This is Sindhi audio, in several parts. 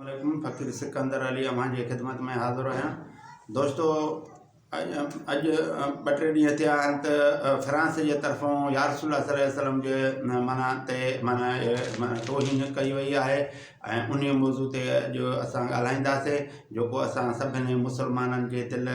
عليڪم فقير سڪندر علي اوهان جي خدمت ۾ حاضر آهيان دوستو اڄ اڄ ٻه ٽي ڏينهن ٿيا آهن ته فرانس جي طرفون يا رسول الله صلي وسلم جي معنيٰ تي معنيٰ معنيٰ توهين ڪئي وئي آهي ۽ ان موضوع تي اڄ اسان ڳالهائينداسي جيڪو اسان سڀني مسلمانن جي دل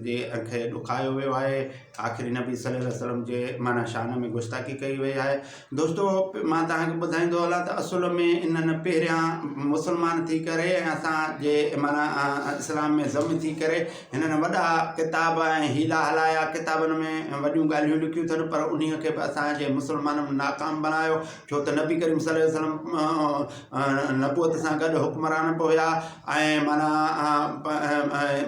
جي کي ڏکايو ويو آهي آخري نبي صلي الله وسلم جي معنيٰ شان ۾ گستاخي ڪئي وئي آهي دوستو مان توهان کي ٻڌائيندو هلان ته اصل ۾ انهن پهريان مسلمان ٿي ڪري ۽ اسان جي معنيٰ اسلام ۾ ضم ٿي ڪري هنن وڏا ڪتاب ۽ هيلا هلايا ڪتابن ۾ وڏيون ڳالهيون لکيون اٿن پر انهيء کي به اسان جي مسلمانن ناڪام بڻايو ڇو ته نبي ڪريم صلي الله عليه وسلم نبوت سان گڏ حڪمران به هيا ۽ معنيٰ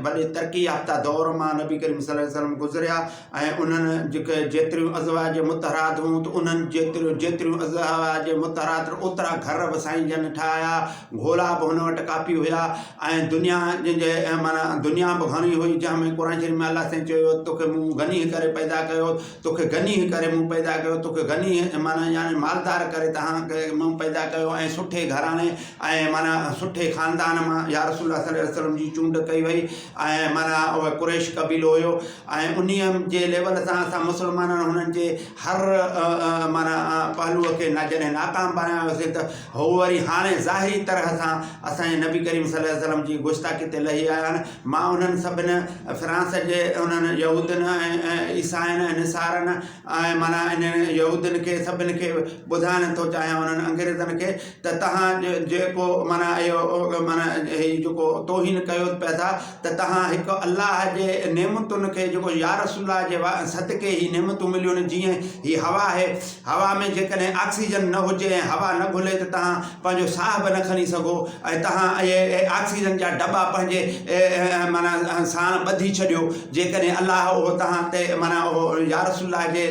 وڏي ترقي يافته دور مان نبي ڪريم صلي الله عليه وسلم گذريا ۽ انهن جيڪي جيتريون ازواج مطهرات هيون ته انهن جيتريون جيتريون ازواج مطهرات اوترا گهر به سائين جن ٺاهيا گهوڙا به هن وٽ ڪافي هيا ۽ دنيا جن جي معنيٰ دنيا به گهڻي هئي جنهن ۾ قرآن شريف ۾ الله سائين چيو هيو توکي مون غني ڪري پيدا ڪيو توکي غنيء ڪري مون پيدا ڪيو، توکي غنيء معنيٰ يعني مالدار ڪري تنهان کي مون پيدا ڪيو ۽ سٺي گهراڻي ۽ معنيٰ سٺي خاندان مان يا رسول الله صلي وسلم جي چونڊ ڪئي وئي ۽ معنيٰ اهو قريش قبيلو هيو ۽ انهيء جي ليول سان اسان مسلمانن هنن جي هر معنيٰ پهلوء کي جڏهن ناڪام بڻايوسين ته هو وري هاڻي ظاهري طرح سان اسان جي نبي ڪريم صلي وسلم جي گستاخي تي لهي آيا آهن مان انهن سڀني فرانس جي انهن يهودين ۽ عيسائين ۽ نصارن ۽ معنيٰ انهن يهودين کي سڀني کي ٻڌائڻ ٿو چاهيان انهن انگريزن کي ته توهان جيڪو معنيٰ اهو معنيٰ هي جيڪو توهين ڪيو پيا ٿا ته توهان هڪ الله جي نعمتن کي جيڪو يارسول الله جي صدقي هي نعمتون مليون آهن جيئن هي هوا آهي هوا ۾ جيڪڏهن آڪسيجن نه هجي ۽ هوا نه گهلي ته توهان پنهنجو ساهه به نه کڻي سگهو ۽ توهان اهي آڪسيجن جا دٻا پنهنجي معنيٰ ساڻ ٻڌي ڇڏيو جيڪڏهن الله اهو توهان تي معنيٰ اهو يارسول الله جي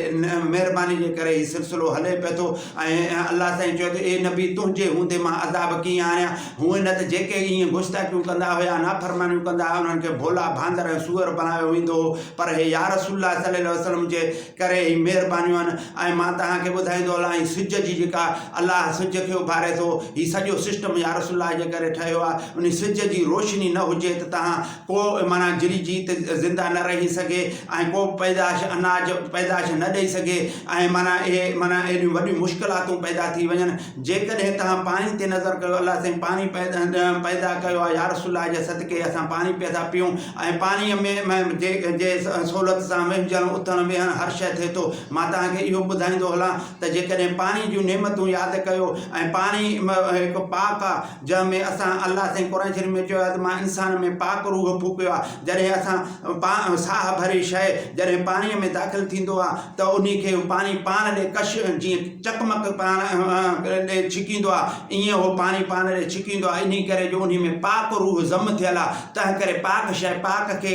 مهرباني جي ڪري هي سلسلو هلي پئي ٿو ۽ الله سائين چيو ته اي نبي تنهنجي هوندي مان عذاب ڪيئن آڻيان هونئن نه ته جيڪي ائين گستاخيون ڪندا هيا نافرمانيون ڪندا هيا انهن کي ڀولا ڀاندر ۽ سوئر بڻايو ويندو هو پر هي يارسول الله صلي الله وسلم جي ڪري هي مهربانيون آهن ۽ مان توهان کي ٻڌائيندو هلان هي سج جي جيڪا الله سج کي اڀاري ٿو هي سڄو سسٽم يا رسول الله جي ڪري ٺهيو آهي ان سج جي روشني نه هجي ته توهان ڪو معنيٰ جري جي ته زنده نه رهي سگهي ۽ ڪو پيدائش اناج پيدائش نه ڏئي سگهي ۽ معنيٰ اهي معنيٰ اهڙيون وڏيون مشڪلاتون پيدا ٿي وڃن جيڪڏهن توهان پاڻي تي نظر ڪيو الله سائين پاڻي پيدا ڪيو آهي يارسول الله جي صدقي اسان پاڻي پيا ٿا پيئون ۽ پاڻي ۾ جي جي سهولت سان وهنجڻ اٿڻ ويهڻ هر شيء ٿئي ٿو مان توهان کي اهو ٻڌائيندو هلان ته جيڪڏهن پاڻي جون نعمتون ياد ڪيو ۽ پاڻي هڪ پاڪ آهي جنهن ۾ اسان الله سائين قرآن شريف ۾ چيو آهي ته مان انسان ۾ پاڪ روح ڦوڪيو آهي جڏهن اسان پاڻ ساهه ڀري شيء جڏهن پاڻيء ۾ داخل ٿيندو آهي ته انهي کي پاڻي پاڻ ڏي ڪش جيئن چقمق پاڻ ڏي ڇڪيندو آهي ايئن اهو پاڻي پاڻ ڏي ڇڪيندو آهي انهي ڪري جو انهي ۾ پاڪ روح ضم ٿيل آهي تنهنڪري پاڪ شيء پاڪ کي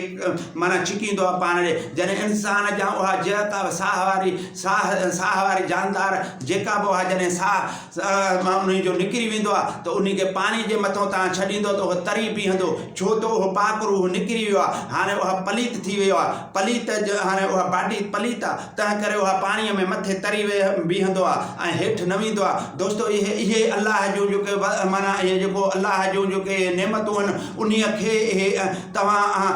معنيٰ ڇڪيندو آهي پاڻ ڏي جڏهن انسان جا اها جهڪاء ساهه واري ساهه ساهه واري جاندار جيڪا به اها جڏهن ساهه سيء مان انهي جو نڪري ويندو آهي ته انهي کي پاڻي جي مٿئون توهان ڇڏيندؤ ته اهو تري پيهندو، ڇو ته اهو پاڪ روح نڪري ويو آهي، هاڻي اها پليت ٿي ويو آهي، پليت جو هاڻي اها باٽي پليت آهي، تنهنڪري اها پاڻيء ۾ مٿي تري بيهندو آهي ۽ هيٺ نه ويندو آهي. دوستو! اهي اهي الله جون جيڪي معنيٰ اهي جيڪو الله جون جيڪي اهي نعمتون آهن، انهي کي اهي توهان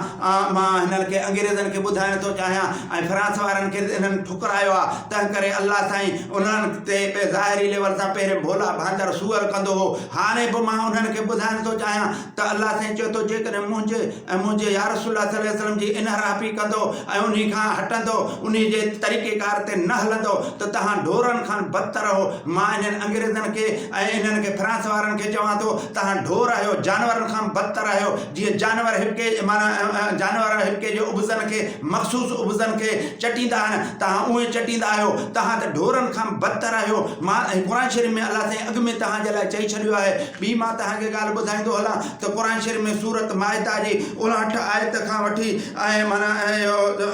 مان هنن کي انگريزن کي ٻڌائڻ ٿو چاهيان ۽ فرانس وارن کي انهن ٺڪرايو آهي، تنهنڪري الله سائين انهن تي به ظاهري ليول سان پهرين ڀولا ڀانگر سوئر ڪندو هو. هاڻي به مان انهن کي ٻڌائڻ ٿو چاهيان ته الله سائين چيو ٿو جيڪڏهن منهنجي ۽ منهنجي يارسول الله صلي وسلم جي انحرافي ڪندو ۽ انهي کان هٽندو، انهي جي طريقيڪار تي نه هلندو ته توهان ڍورن کان بدتر اهو. مان انهن انگريزن کي ۽ انهن کي فرانس وارن کي چوان ٿو توهان ڍور آهيو، جانورن کان بدتر آهيو، جيئن جانور هٻڪي معنيٰ جانور هٻڪي جي ابزن کي. مخصوص عبضن کي چٽيندا آهن توهان اهي چٽيندا آهيو توهان ته ڍورن کان بدتر آهيو مان ۽ قرآن شريف ۾ الله سائين اڳ ۾ توهان جي لاء چئي ڇڏيو آهي ٻي مان توهان کي ڳالهه ٻڌائيندو هلان ته قرآن شريف ۾ سورت مائده جي اڻهٺ آيت کان وٺي ۽ معنيٰ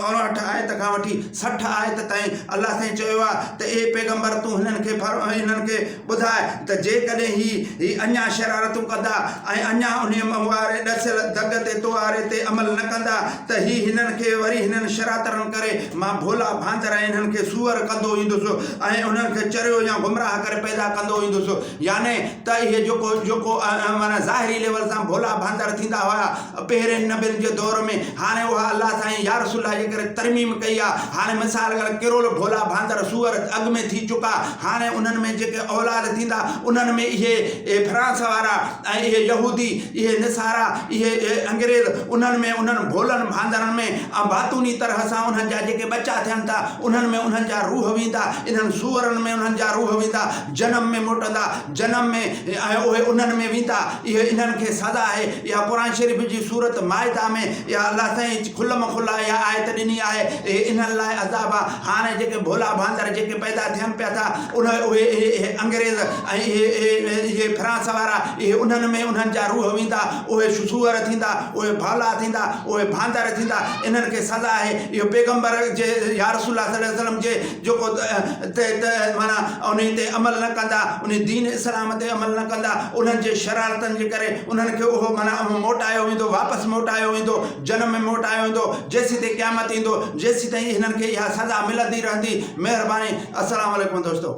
اڻهٺ آيت کان وٺي سٺ آيت تائين الله سائين چيو آهي ته اي پيغمبر تون هنن کي هنن کي ٻڌاء ته جيڪڏهن هي هي اڃا شرارتون ڪندا ۽ اڃا انهيء منهن واري ڏسيل دڳ تي تواري تي عمل نه ڪندا ته هي هنن کي وري هنن شراترن ڪري مان ڀولا ڀانتر ۽ انهن کي سوئر ڪندو ايندس ۽ انهن کي چريو يا گمراهه ڪري پيدا ڪندو ايندس يعني ته اهي جيڪو جيڪو معنيٰ ظاهري ليول سان ڀولا ڀانتر ٿيندا هيا پهرين نبين جي دور ۾ هاڻي اها الله سائين يا رسول الله جي ڪري ترميم ڪئي آ هاڻي مثال ڪري ڪرول ڀولا ڀاندر سوئر اڳ ۾ ٿي چڪا هاڻي انهن ۾ جيڪي اولاد ٿيندا انهن ۾ اهي اهي فرانس وارا ۽ اهي يهودي اهي نصارا اهي اهي انگريز انهن ۾ انهن ڀولن ڀاندرن ۾ ۽ باطوني طرح سان انهن جا جيڪي ٻچا ٿين ٿا انهن ۾ انهن جا روح ويندا انهن سوئرن ۾ انهن جا روح ويندا جنم ۾ موٽندا جنم ۾ ۽ اهي انهن ۾ ويندا، اهي انهن کي سزا آهي. اها قرآن شريف جي سورت مائده ۾ اها الله سائين کلم کلا اها آيت ڏني آهي، اهي انهن لاء عذاب آ. هاڻي جيڪي ڀولا ڀاندر جيڪي پيدا ٿين پيا ٿا، انهن اهي اهي اهي انگريز ۽ اهي اهي اهي فرانس وارا، اهي انهن ۾ انهن جا روح ويندا، اهي سوئر ٿيندا، اهي ڀولا ٿيندا، اهي ڀاندر ٿيندا، انهن کي سزا آهي. اهو پيغمبر جي يا رسول الله صلي وسلم جي جيڪو تحت معنيٰ انهي تي عمل نه ڪندا، انهي دين اسلام تي عمل نه ڪندا، انهن جي شرارتن جي ڪري انهن کي اهو معنيٰ اهو موٽايو ويندو، واپس موٽايو ويندو، جنم ۾ موٽايو ويندو، جيسين تائين قيامت ايندو، جيسين تائين هنن کي اها سزا ملندي رهندي. مهرباني. السلام عليڪم دوستو.